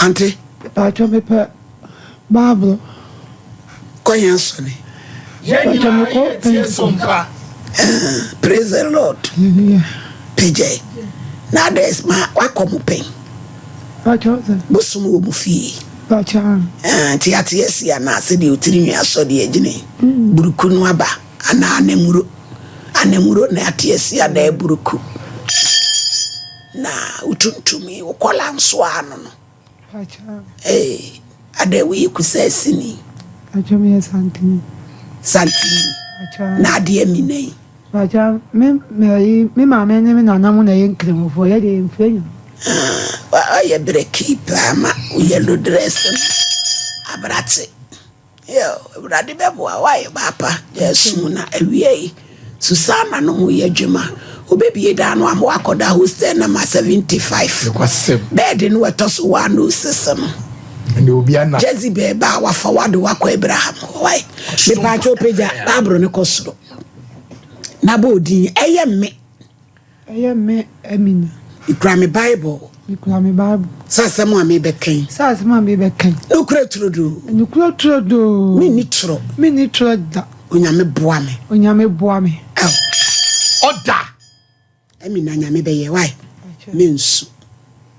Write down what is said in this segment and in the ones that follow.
Ante. Mpatsɔ me pɛ bible. Kɔ hɛn sɔne. Yɛn nyinaa yɛ tie so mpa. Praise the Lord pagyae na adɛs ma wakɔ mo pɛn bosom wɔ mo fie nti yɛate asi anaa sɛdeɛ otiri nwi asɔ deɛ gyene buruku no aba anaa anamuro anamuro na yɛate asi anaa buruku Na wotuntumi wo kɔla nso ano no. Ee, adɛn woyɛ kusaa sini? Pakyɛ meyɛ santini. Santini? Pakyɛ. Na adeɛ mina yi? Pakyɛ me mɛyi me maame ne me nana mu na yɛ nkramofoɔ yɛ deɛ mfrɛ nyina. Ah, ɔyɛ berɛ kii paa ma wo yellow dress no aberate. Yiw, Awurade bɛboa wo ayɛ baapa de asu wo, na awiei Susana no ho yɛ dwuma. Wobebue dan no ama woakɔda hostel nɔma 75, Nokwasɛm. bɛɛde no a ɛtɔ so 106 no. Ɛnde obi ana? Jezebel ba a wafa wo ade wakɔ Abraham hɔ. Wae, mepaakyɛw pagya Bible no kɔ soro na bɔ odin, ɛyɛ me. Ɛyɛ me Amina. Mekura me Bible. Mekura me Bible. Sɛ asɛm a mebɛkan. Sɛ asɛm a mebɛkan. Nokura turodoo. Nokura turodoo. Menni toro. Menni toro da. Onyame boa me. Onyame boa me. Ɔda. Amina nyame bɛyɛ wae. Mensu.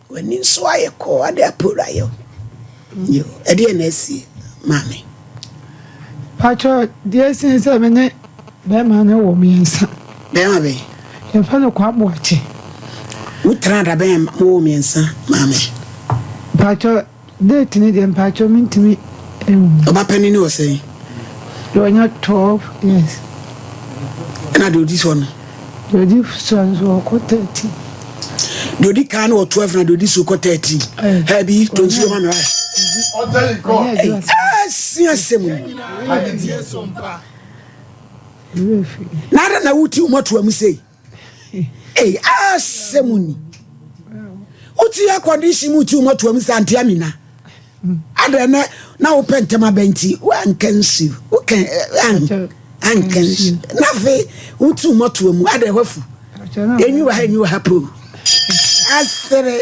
W'ani nso ayɛ kɔɔ ade apowura yɛ o. Yoo ɛdeɛn na asie maame. Pakyɛ deɛ ɛsen sɛ me ne bɛɛma no wɔ miɛnsa. Bɛɛma bɛn? Yɛfrɛ no Kwaa Boakye. Mo tena da bɛn a mo wɔ miɛnsa maame? Pakyɛ. Date no deɛ mpakyɛw mentumi nhu. Ɔba panin no wɔ sɛn? Deɛ ɔnya twelve years. Ɛna deɛ ɔdi soɔ no? Deɛ ɔdi soɔ no so ɔkɔ thirteen. Deɛ ɔdi kan no wɔ twelve na deɛ ɔdi so kɔ thirteen. Ɛɛ bi to nsuo ma mi wa. Ɛsi asɛm mu. N'ada na wuti wɔn ato amu sei. Ei asɛm ni. Wotu air condition mu tu mɔtoa mu sɛ ante amina. Adɛ nɛ na wopɛ ntɛm abɛn nti woanka nsi wokɛ anka nsi na afei wotu mɔtoa mu adɛ hɔ afu ɛnyi wɔ ha ɛnyi wɔ ha po asere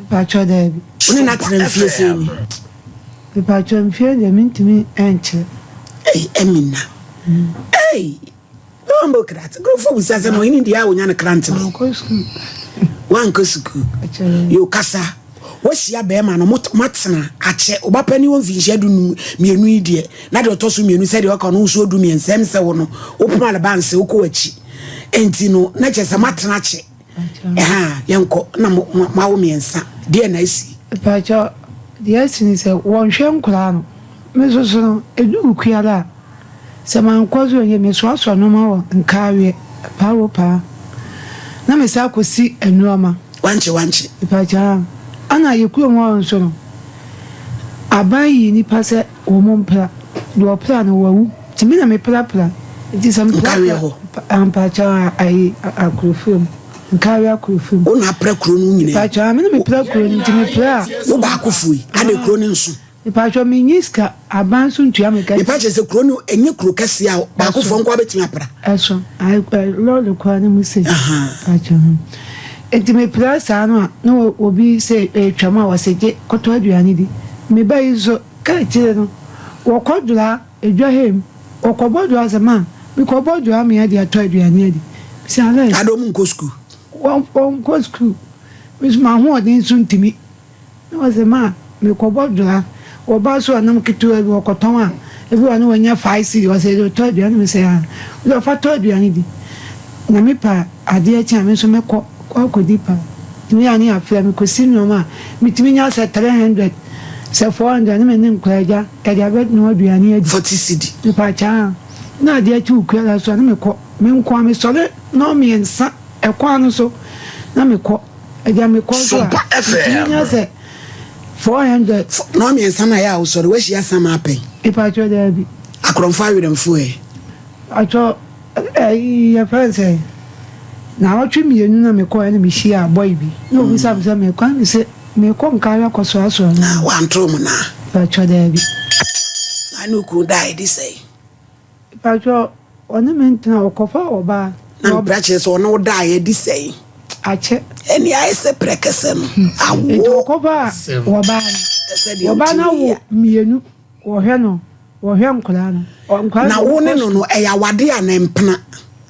Mpatsɔ daabi. Wo ne no atsena mfie sɛn ni? Mpatsɔ mfie deɛ mentumi nkyerɛ. Ei Amina ei Wambɔ kratse nkorɔfoɔ busa sɛ ma ɔhene deɛ a wonya no krantse bɛn? Mankɔ sukuu. Woankɔ sukuu? Akyɛrɛ. Yo kasa woahyia bɛrima no moatsena akyɛ woba pɛ ne wɔ mfinhyia du num mmienu yi deɛ na deɛ ɔtɔ so mmienu sɛdeɛ ɔka no wosuo du mmiɛnsa ɛm sɛ wo no wopoma le ba nsɛ wokɔ wakyi ɛnti no na kyɛ sɛ moatena akyɛ Ɛhaa, yɛnkɔ, na mo, mo, moawo mmiɛnsa. Deɛ na asi? Mpakyɛw, deɛ asi ne sɛ, wɔnhwɛ nkwadaa no. Me nso so no, ɛdu awuku ara a, sɛ mankɔ so anwie, mesoasoa nnoɔma wɔ nkaaweɛ, paawoo paa, na mesan akɔsi nnoɔma. Wankye, wankye. Mpakyɛw, ɛna yɛn kurom hɔ nso no, aban yii nnipa sɛ. Wɔmpira. Deɛ ɔpira no, wawu. Nti me na meprapra. Nti sɛ meprapra. Nkaeɛ hɔ. Mpakyɛw a, ayi, Akorofua mu. Nkaeɛ Akorofua mu. Wo na apra kuro no nyinaa. Mpakyɛw, me na mepra kuro no, nti mepra a. Wo baakofoɔ yi, adɛn kuro no nso? Mpakyɛw, menni sika, aban nso ntua me ka. Mepa kyɛ sɛ kuro no ɛnyɛ kuro kɛseɛ a baakofoɔ nko ara bɛtumi apra. Ɛso, ae, lɔɔre koraa na mu sei. Ahaa. Mpakyɛw. Enti mepira saa no a na obi sɛ retwam a ɔse gye kɔtɔ aduane di. Me ba yi nso ka akyire no wɔkɔ dwora edwa hɛ mu wɔkɔbɔ dwora sɛ ma me kɔ bɔ dwora me ade atɔ aduane adi. Mese Alex. Adɛn ɔmo nkɔ sukuu? Wɔn wɔn nkɔ sukuu. Me nso m'ahoɔden so ntumi. Na ɔse ma mekɔbɔ dwa wɔ baa so a nam ketewa bi wɔkɔtɔn a ebi wɔ a na wɔnya five cedi ɔse yɛde tɔ aduane mese haa ɔse ɔfa tɔ aduane di na me pɛ a adeɛ kye a me nso mɛkɔ akɔdi paa ɛno yɛ a ne yɛafrɛ me kɔsi nnoɔma a metumi nya sɛ three hundred sɛ four hundred ne me ne nkwaagya yɛde abɛnoa aduane adi forty cedi mepaakyɛw na adeɛ kye wɔ kuala so a na mekɔ me nko a mesɔre nnɔn mmiɛnsa ɛkwan no so na mekɔ. Agya me kɔ so a. Sompa FM. Nya sɛ 400. Na ɔmiɛnsa na yɛ a wosɔre wahyia sam apɛ. Ipa atwɔ dɛ bi. Akorɔmfo awerɛmfo ɛ. Atwɔ ɛ yɛ fɛ nsɛ. Na ɔtwe mienu na me kɔ ɛ na me hyia a boy bi. Na obi sa me sɛ me kɔ ɛ me se me kɔ nka awɛ kɔ soa soa no. Na wantoro mo na. Ipa atwɔ dɛ bi. Na ne okun da ɛ di sɛ. Mpakyɛ ɔne me ntena o kɔfa ɔbaa. Na mpira kyerɛ sɛ ɔne wo daeɛ adi sɛn? Akyɛ. Ɛne ayɛ sɛ prɛkɛsɛ no awo. Nti ɔkɔfa ɔbaa no. Ɔbaa no awo mmienu wɔhwɛ no wɔhwɛ nkwadaa no. Na wo ne no no ɛyɛ awadeɛ anaa mpena?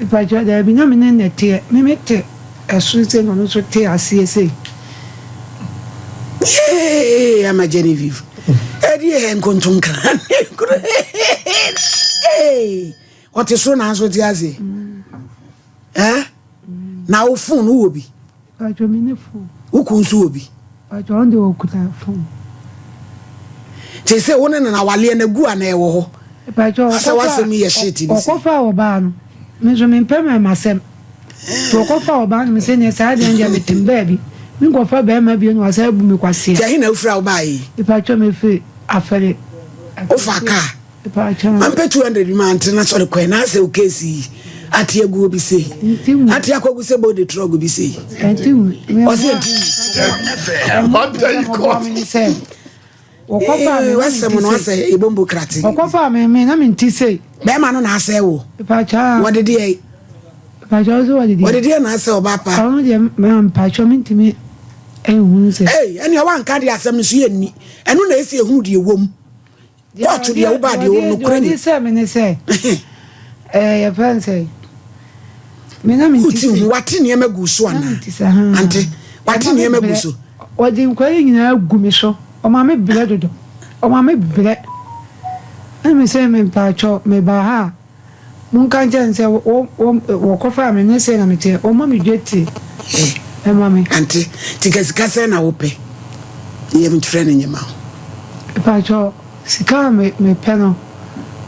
Mpakyɛw, daabi, na me ne no na ɛteɛ. Me me te ɛso sei na ɔno nso te aseɛ sei. Yay! Ama Genevieve. Ɛdi yɛ nkontom kra ne kuro. Ɔte soro nanso ɔte aseɛ. Eh? Na wo phone wɔ bi. Paatwɔ me ne phone. Wo kun nso wɔ bi. Paatwɔ ɔno deɛ ɔkuta phone. Te sɛ wo ne no no awaleɛ no agu anaa ɛwɔ hɔ? Paatwɔ Asa w'asɛm yi yɛ shit bi sɛ. Ɔkɔfa ɔbaa no me nso me mpɛ mɛma asɛm nti ɔkɔfa ɔbaa no me sɛ neɛ saa deɛ ndeɛ me tem baabi me nkɔfa bɛɛma bio na wasan abu me kwasea. Nti ɛhe na wofiri a wobaeɛ yi? Paatwɔ me firi afɛre. Wofa car Mampɛ 200 bi mante na sɔre kɔɛ na asɛ okesi yi ate aguo bi sei ate akɔgu sɛ bɔde trɔgo bi sei ɔsɛ ɛti wasɛm no asɛ ɛbombo krate ɔkɔfa meme na menti sei bɛrima no na asɛ wo wɔde deɛ wɔde deɛ na asɛ ɔba pa ɔno deɛ mpakyɛ mentumi ɛhunu sɛ ɛneɛ wanka deɛ asɛm no so yɛ nni ɛno na ɛsi ɛhunu deɛ wɔ mu Woato deɛ wobaa deɛ ɔwɔ nokorɛ ni. Deɛ ɔde sɛ me ne sɛ ɛɛ yɛfrɛ no sɛ me na me nti sɛ. Wotu wate nneɛma gu so ana? Ante wate nneɛma gu so. Wɔde nkwari nyinaa gu me so ɔma me brɛ dodo ɔma me brɛ ɛna me sɛ me mpaatwɔ me baa ha a. Monka nkyerɛ no sɛ, Wɔ, wɔ, wɔkɔfaa me, ɛnyɛ sɛɛ na meteɛ. Wɔma me dwetire Ɛ, ma me. Ante, nti ka sika sɛn na wopɛ? Yɛ me twerɛ no nyɛ ma wo. Mpakyɛ, sika a me, mepɛ no,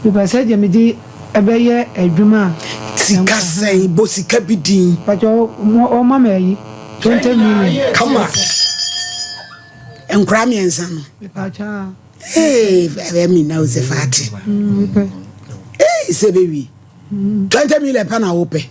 mepɛ sɛ deɛ mede bɛyɛ adwuma a. Sika sɛn? Bɔ sika bi din. Mpakyɛ, wɔ, wɔma me ayi, twenty million. Come back. Nkwadaa mmiɛnsa no. Mpakyɛ, ah. Hey, I mean now it's a party. Hey, it's a baby. Twenty million pound a wopɛ.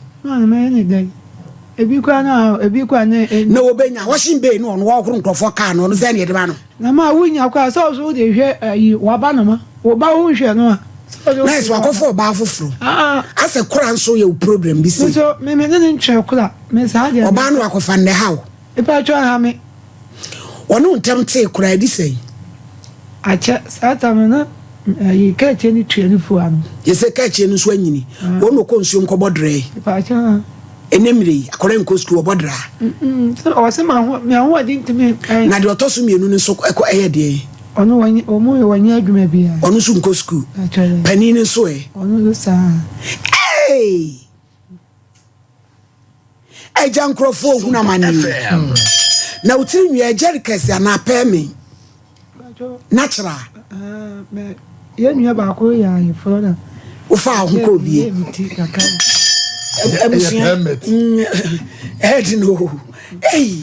ebi kura na ebi kura ne. E- na wobɛnya washing bay no ɔno wɔhoro nkurɔfoɔ kaa no ɔno sɛ ne ɛde ba no. na ma wonya kɔ a sɛ ɔso wode hwɛ ayi waba no ma woba wo nhwɛ no a. na ɛsɛ wakɔfo ɔbaa foforɔ ah. asɛ kora nso yɛ wo problem bi si. nso meme ne ne nkyerɛ kora me saa deɛ. ɔbaa no wakɔfa nnɛ ha o. ipa twɛ ha me. wɔne wo ntam tee koraa, ɛdi sɛn? Akyɛ, saa tam no na ɛyi kaakye no tua ne fua no. Yɛ sɛ kaakye no nso anyini. Wɔn na ɔkɔ nsuom kɔbɔ drɛɛ. Ɛnɛ mmerɛ yi, akwadaa nkɔ sukuu wɔbɔ draa. Ɔsɛ ma ahoɔden ntumi. Na deɛ ɔtɔ so mmienu no nso ɛkɔ ɛyɛ deɛ. Ɔno wɔn wɔn nyɛ adwuma biara. Ɔno nso nkɔ sukuu. Panin no nso ɛ. Ɔno nso saa. Hey! Agya nkurɔfoɔ ohunu amaneɛ na wo tiri nwi ɛgyɛre kɛse anaa pɛɛ me na kyerɛ a. Yɛn nua baako yɛ ayeforɔ na. Wofa aho kɔ obie. Ɛmusua ɛɛdi no. Ɛyi.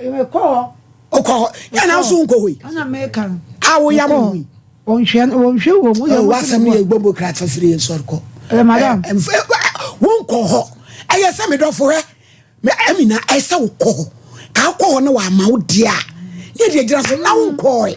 Mekɔ hɔ. Wokɔ hɔ. Yɛ na nso wonkɔ hɔ yi. Ɛna meka no. A woyam hɔ yi. Wɔnhwɛ wɔnhwɛ wɔ mu. Wasɛm no yɛ gbogbo kra kyɛsere yɛ nsɔre kɔ. Ɛ madam. Wonkɔ hɔ. Ɛyɛ sɛ medɔfo hɛ. Amina ɛsɛ wokɔ hɔ. Ka wokɔ hɔ na wama wo deɛ a. Yɛ deɛ gyina so na wonkɔ hɔ.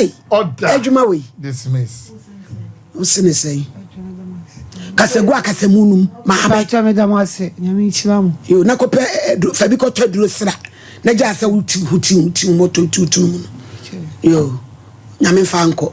Ei, Order. adwuma wei. Dismiss. Wo se ne sɛn? Kasagu a kasamu nom maa bɛ. Bàtà mi da mo ase, nyame nhyira mo. Yo, na kɔpɛ eh, du- fa bi kɔtɔ aduro sra na gyaa sɛ wotiw ho tiw ho tiw ho mɔtɔ tiw tiw mu no. Yo, nyame mfa nkɔ.